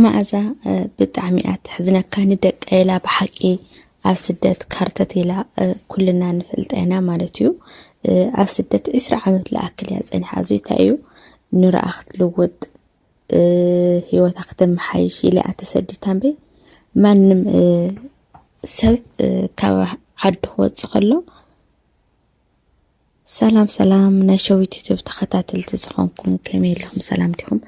መኣዛ ብጣዕሚ እያ ተሕዝነካ ንደቀ ኢላ ብሓቂ ኣብ ስደት ካርተት ኢላ ኩልና ንፈልጣ ኢና ማለት እዩ ኣብ ስደት ዕስራ ዓመት ልኣክል እያ ፀኒሓ እዚ እንታይ እዩ ንርኣ ክትልውጥ ህይወታ ክትመሓይሽ ኢለ እያ ተሰዲታ እምበይ ማንም ሰብ ካብ ዓዱ ክወፅእ ከሎ ሰላም ሰላም ናይ ሸዊት ዩቱብ ተኸታተልቲ ዝኾንኩም ከመይ ኣለኹም ሰላም ዲኹም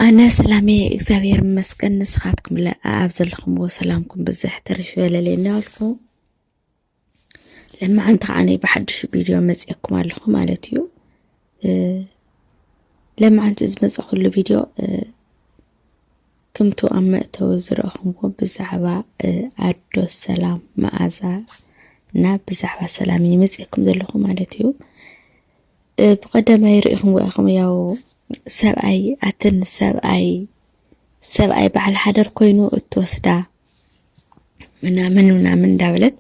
ኣነ ሰላም እየ እግዚኣብሔር ይመስገን ንስኻትኩም ለ ኣብ ዘለኹምዎ ሰላምኩም ብዝሕ ተርፍ ይበለለይ እናበልኩ ለማዓንቲ ከዓ ናይ ብሓድሽ ቪድዮ መፅየኩም ኣለኹ ማለት እዩ ለማዓንቲ ዝመፀኹሉ ቪድዮ ክምቱ ኣብ መእተዊ ዝረእኹምዎ ብዛዕባ ኣዶ ሰላም መኣዛ እና ብዛዕባ ሰላም እዩ መፅኩም ዘለኹ ማለት እዩ ብቀዳማይ ርኢኹም ወኢኹም ያው ሰብኣይ ኣትን ሰብኣይ ሰብኣይ በዓል ሓደር ኮይኑ እትወስዳ ምናምን ምናምን እንዳበለት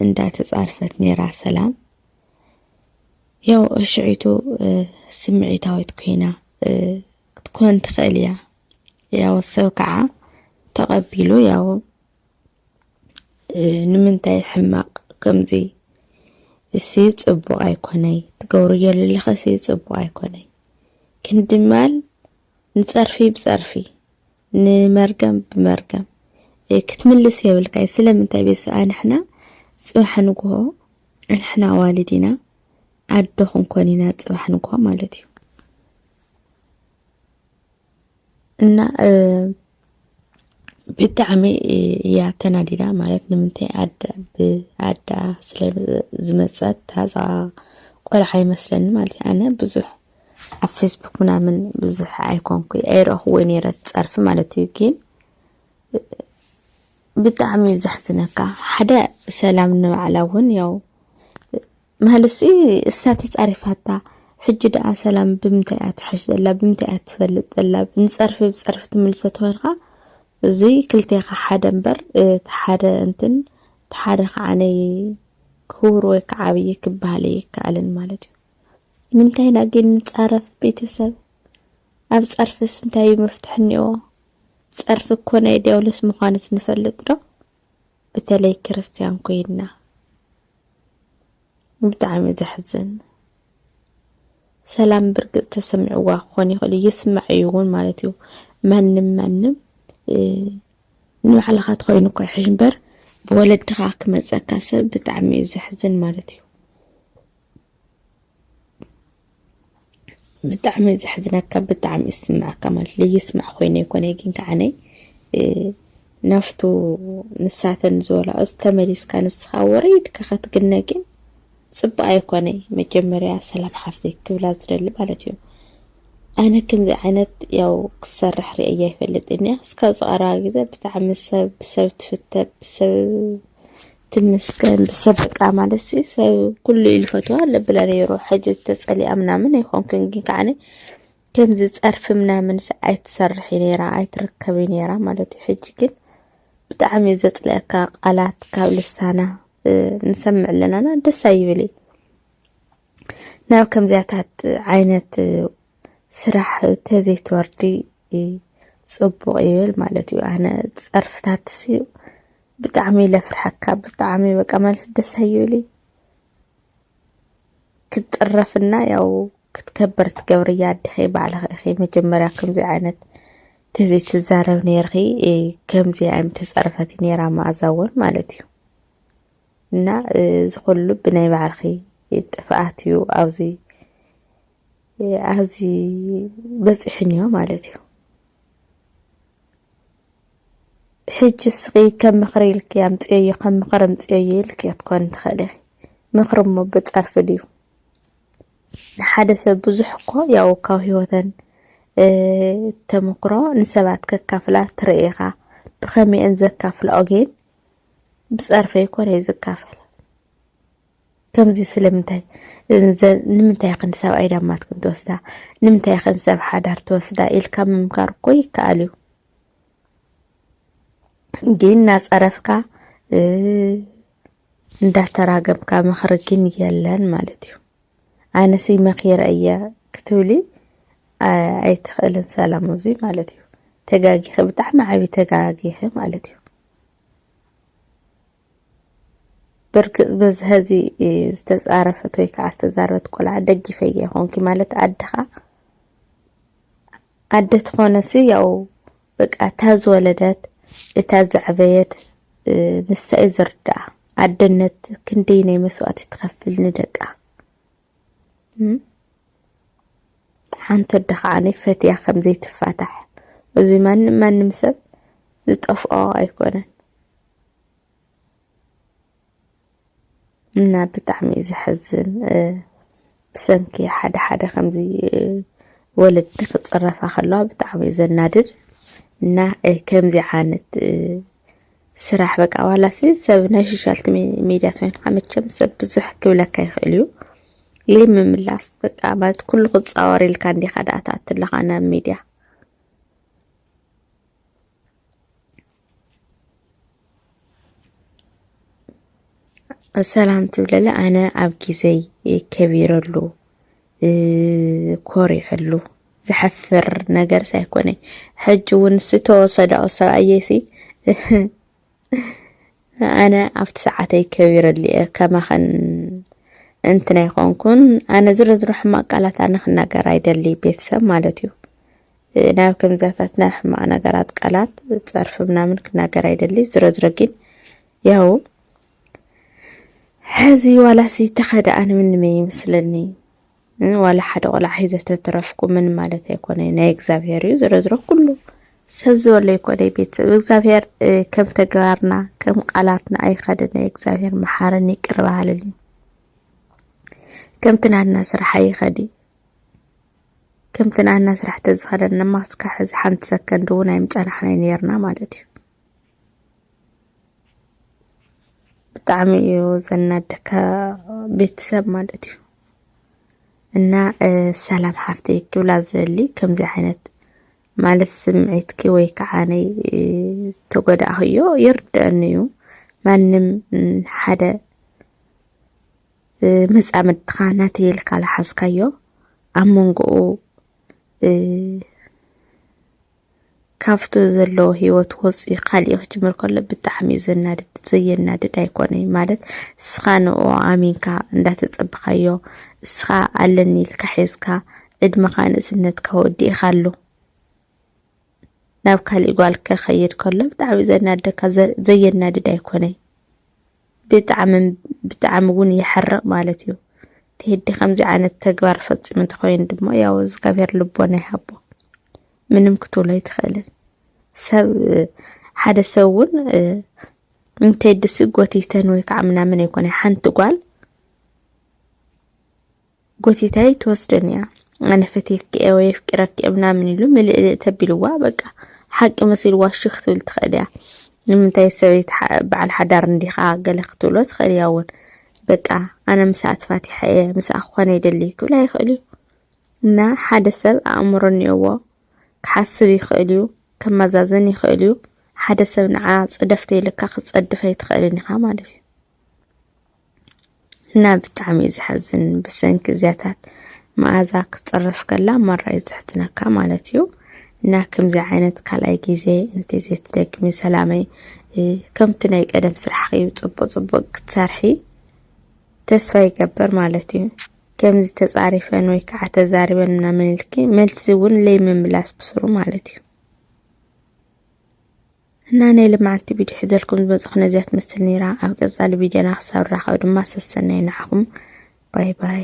እንዳተፃርፈት ነይራ ሰላም ያው ሽዒቱ ስምዒታዊት ኮይና ክትኮን ትኽእል እያ። ያው ሰብ ከዓ ተቐቢሉ ያው ንምንታይ ሕማቕ ከምዚ እሲ ጽቡቕ ኣይኮነይ ትገብሩ ዘለለኸ እሲ ጽቡቕ ኣይኮነይ ክንድማል ንጸርፊ ብጸርፊ ንመርገም ብመርገም ክትምልስ የብልካይ ስለምንታይ ቤት ሰብኣይ ንሕና ፅባሕ ንግሆ ንሕና ኣዋልድ ኢና ኣዶ ክንኮን ኢና ፅባሕ ንግሆ ማለት እዩ እና ብጣዕሚ እያ ተናዲዳ ማለት ንምንታይ ኣዳ ብኣዳ ስለ ዝመፀት ታዛ ቆልዓ ይመስለኒ ማለት እዩ ኣነ ብዙሕ ኣብ ፌስቡክ ምናምን ብዙሕ ኣይኮንኩ ኣይረእኹዎ ነይረ ፀርፊ ማለት እዩ ግን ብጣዕሚ እዩ ዘሕዝነካ ሓደ ሰላም ንባዕላ እውን ያው ማለሲ እሳ ተፃሪፋታ ሕጂ ደኣ ሰላም ብምንታይ እያ ትሕሽ ዘላ ብምንታይ እያ ትፈልጥ ዘላ ንፀርፊ ብፀርፊ ትምልሶ ተኮይንካ እዚ ክልቴኻ ሓደ እምበር እቲ ሓደ እንትን እቲ ሓደ ከዓ ክውር ወይ ከዓ ዓብዪ ክበሃል ኣይከኣልን ማለት እዩ ንምንታይ ኢና ግን ንጻረፍ ቤተሰብ? ኣብ ጸርፍስ እንታይ እዩ መፍትሒ እኒኦ? ጸርፊ እኮ ናይ ዲያብሎስ ምዃንስ ንፈልጥ ዶ? በተለይ ክርስትያን ኮይንና ብጣዕሚ ዘሕዝን ሰላም ብርግጽ ተሰሚዕዋ ክኾን ይኽእል እዩ ይስማዕ እዩ እውን ማለት እዩ ማንም ማንም ንባዕልኻ ትኾይኑ እኳ ይሕሽ እምበር ብወለድኻ ክመፀካ ሰብ ብጣዕሚ እዩ ዘሕዝን ማለት እዩ ብጣዕሚ ዘሕዝነካ ብጣዕሚ ይስምዐካ ማለት ለየስማዕ ኮይነ ይኮነ ግን ከዓነይ ናፍቱ ንሳተን ዝበላኦስ ተመሊስካ ንስኻ ወረይድካ ከትግነ ግን ፅቡቅ ኣይኮነይ መጀመርያ ሰላም ሓፍተይ ክብላ ዝደሊ ማለት እዩ ኣነ ከምዚ ዓይነት ያው ክሰርሕ ርእየ ይፈልጥ እኒያ እስካብ ዝቐረባ ግዜ ብጣዕሚ ሰብ ብሰብ ትፍተ ብሰብ ትመስገን ብሰብ በቃ ማለት ሲ ሰብ ኩሉ ኢሉ ፈትዋ ለብለ ነይሩ ሕጂ ተጸሊኣ ምናምን ኣይኮንኩን ግን ከዓነ ከምዚ ጸርፊ ምናምን ሲ ኣይትሰርሒ ነይራ ኣይትርከቢ ነይራ ማለት እዩ ሕጂ ግን ብጣዕሚ እዩ ዘጽልአካ ቃላት ካብ ልሳና እ፣ ንሰምዕ ኣለናና ደስ ኣይብል እዩ ናብ ከምዚያታት ዓይነት እ፣ ስራሕ ተዘይትወርዲ እ፣ ጽቡቕ ይብል ማለት እዩ ኣነ ጸርፍታትሲ ብጣዕሚ ኢለ ፍርሐካ ብጣዕሚ በቃ ማለት ደስ ኣይብልይ ክትጥረፍና ያው ክትከበር ትገብርያ ኣድኺ ባዕልኺ ኢኺ መጀመርያ ከምዚ ዓይነት እዚ ትዛረብ ነርኺ ከምዚ ኣይም ተፀርፈት ነራ መኣዛ እውን ማለት እዩ እና ዝኩሉ ብናይ ባዕልኺ ጥፍኣት እዩ ኣብዚ ኣብዚ በፂሑን እዮ ማለት እዩ ሕጂ እስኺ ከም ምኽሪ ኢልኪ ኣምጽዮዮ ከም ምኽሪ ኣምጽዮዮ ኢልኪ ክትኮኒ ትኽእሊ ኢኺ። ምኽሪ እሞ ብጸርፊ ድዩ? ንሓደ ሰብ ብዙሕ እኮ ያው ካብ ህይወተን ተመክሮ ንሰባት ከካፍላ ትርኢ ኢኻ። ብኸመይ እየን ዘካፍላኦ ግን ብጸርፊ ኣይኮነይ ዝካፈል። ከምዚ ስለምንታይ ንምንታይ ኽን ሰብ ኣይዳማት ክንትወስዳ ንምንታይ ኽን ሰብ ሓዳር ትወስዳ ኢልካ ምምካር እኮ ይከኣል እዩ። እንዲህ እናጸረፍካ እንዳተራገምካ ምኽሪ ግን የለን ማለት እዩ ኣነሲ መኺረ እየ ክትብሊ ኣይትኽእልን ሰላም እዚ ማለት እዩ ተጋጊኺ ብጣዕሚ ዓብዪ ተጋጊኺ ማለት እዩ ብርግፅ በዚ ሀዚ ዝተፃረፈት ወይ ከዓ ዝተዛረበት ቆልዓ ደግፈየ ይኾንኪ ማለት ዓድኻ ኣደ ትኾነሲ ያው በቃ እታ ዝወለደት እታ ዘዕበየት ንሳ እዩ ዝርዳኣ ኣደነት ክንደይ ናይ መስዋእቲ ትኸፍል ንደቃ ሓንቲ ኣደ ከዓኒ ፈትያ ከም ዘይትፋታሕ እዚ ማንም ማንም ሰብ ዝጠፍኦ ኣይኮነን እና ብጣዕሚ እዩ ዘሕዝን ብሰንኪ ሓደ ሓደ ከምዚ ወለዲ ክፅረፋ ከለዋ ብጣዕሚ እዩ ዘናድድ እና ከምዚ ዓይነት ስራሕ በቃ ዋላሲ ሰብ ናይ ሶሻል ሚዲያ ኮይንካ መቸም ሰብ ብዙሕ ክብለካ ይኽእል እዩ ለይ ምምላስ በቃ ማለት ኩሉ ክፃወር ኢልካ እንዲኻ ዳኣ ትኣቱ ኣለኻ ናብ ሚዲያ ሰላም ትብለለ ኣነ ኣብ ጊዜይ ከቢረሉ ኮሪዐሉ ዝሐፍር ነገር ሳይኮነ ሕጂ እውን ዝተወሰደኦ ሰብኣየሲ ኣነ ኣብቲ ሰዓተይ ከቢረሉ እየ ከማኸን እንትን ኣይኮንኩን ኣነ ዝሮ ዝሮ ሕማቅ ቃላት ኣነ ክናገር ኣይደሊ ቤተሰብ ማለት እዩ ናብ ከምዛታት ናብ ሕማቕ ነገራት ቃላት ጸርፊ ምናምን ክናገር ኣይደሊ ዝሮ ዝሮ ግን ያው ሕዚ ዋላሲ ተኸደኣ ንምንመ ይመስለኒ ዋላ ሓደ ቆልዓ ሒዘ ተትረፍኩ ምን ማለት ኣይኮነ ናይ እግዚኣብሄር እዩ ዝሮ ዝሮ ኩሉ ሰብ ዝበሎ ይኮነ ቤተሰብ እግዚኣብሄር ከም ተግባርና ከም ቃላትና ኣይኸደነ እግዚኣብሄር መሓርን ይቅር በሃልን እዩ ከምቲ ናትና ስራሕ ኣይኸድ እዩ ከምቲ ንኣና ስራሕ ተዝኸደና ማስካ ሕዚ ሓንቲ ሰከንድ እውን ኣይምፀናሕናይ ነርና ማለት እዩ። ብጣዕሚ እዩ ዘናደካ ቤተሰብ ማለት እዩ እና ሰላም ሓፍተይ ክብላ ዝደሊ ከምዚ ዓይነት ማለት ስምዒትኪ ወይ ከዓ ናይ ተጎዳእኽዮ ይርድአኒ እዩ ማንም ሓደ መጻምድትኻ ናተይ ኢልካ ዝሓዝካዮ ኣብ መንጎኡ ካብቲ ዘለዎ ሂወት ወፂኡ ካሊእ ክጅምር ከሎ ብጣዕሚ እዩ ዘናድድ ዘየናድድ ኣይኮነይ ማለት እስኻ ንኡ ኣሚንካ እንዳተፀብኻዮ እስኻ ኣለኒ ኢልካ ሒዝካ ዕድመኻ ንእስነትካ ወዲእኻ ኣሎ ናብ ካሊእ ጓል ከኸይድ ከሎ ብጣዕሚ ዘናደካ ዘየናድድ ኣይኮነይ ብጣዕሚ ብጣዕሚ እውን ይሐርቕ ማለት እዩ። ቴዲ ከምዚ ዓይነት ተግባር ፈፂሙ እንተኮይኑ ድማ ያው እግዚኣብሔር ልቦና ይሃቦ። ምንም ክትብሎ ኣይትኽእልን። ሰብ ሓደ ሰብ እውን ንቴዲሲ ጎቲተን ወይ ከዓ ምናምን ኣይኮነ ሓንቲ ጓል ጎቲታይ ትወስደን እያ ኣነ ፈትየኪ እየ ወይ ኣፍቂረኪ እየ ምናምን ኢሉ ምልእልእ ተቢልዋ በቃ ሓቂ መሲልዋ እሺ ክትብል ትኽእል እያ ንምንታይ ሰበይቲ በዓል ሓዳር እንዲኻ ገለ ክትብሎ ትኽእል እያ እውን በቃ ኣነ ምስኣ ተፋቲሐ እየ ምስኣ ክኾነ ይደሊ ክብላ ይኽእል እዩ እና ሓደ ሰብ ኣእምሮ እኒኦዎ ክሓስብ ይኽእል እዩ ከመዛዘን ይኽእል እዩ ሓደ ሰብ ንዓ ፅደፍተ ኢልካ ክትፀድፍ ኣይትኽእልን ኢኻ ማለት እዩ እና ብጣዕሚ እዩ ዝሓዝን ብሰንኪ እዚያታት መኣዛ ክትፅረፍ ከላ ማራ እዩ ዘሕዝነካ ማለት እዩ እና ከምዚ ዓይነት ካልኣይ ግዜ እንተዘይትደግሚ ሰላመይ ከምቲ ናይ ቀደም ስራሕኺ እዩ ፅቡቅ ፅቡቅ ክትሰርሒ ተስፋ ይገበር ማለት እዩ ከምዚ ተፃሪፈን ወይ ከዓ ተዛሪበን ምናምን ኢልኪ መልሲ እውን ለይምምላስ ብስሩ ማለት እዩ እና ናይ ልማዓንቲ ቪድዮ ሕዘልኩም ዝመጽኹ ነዚያ ትመስል ነይራ ኣብ ቀጻሊ ቪድዮና ክሳብ ንራኸብ ድማ ሰሰናዩ ንዓኹም ባይ ባይ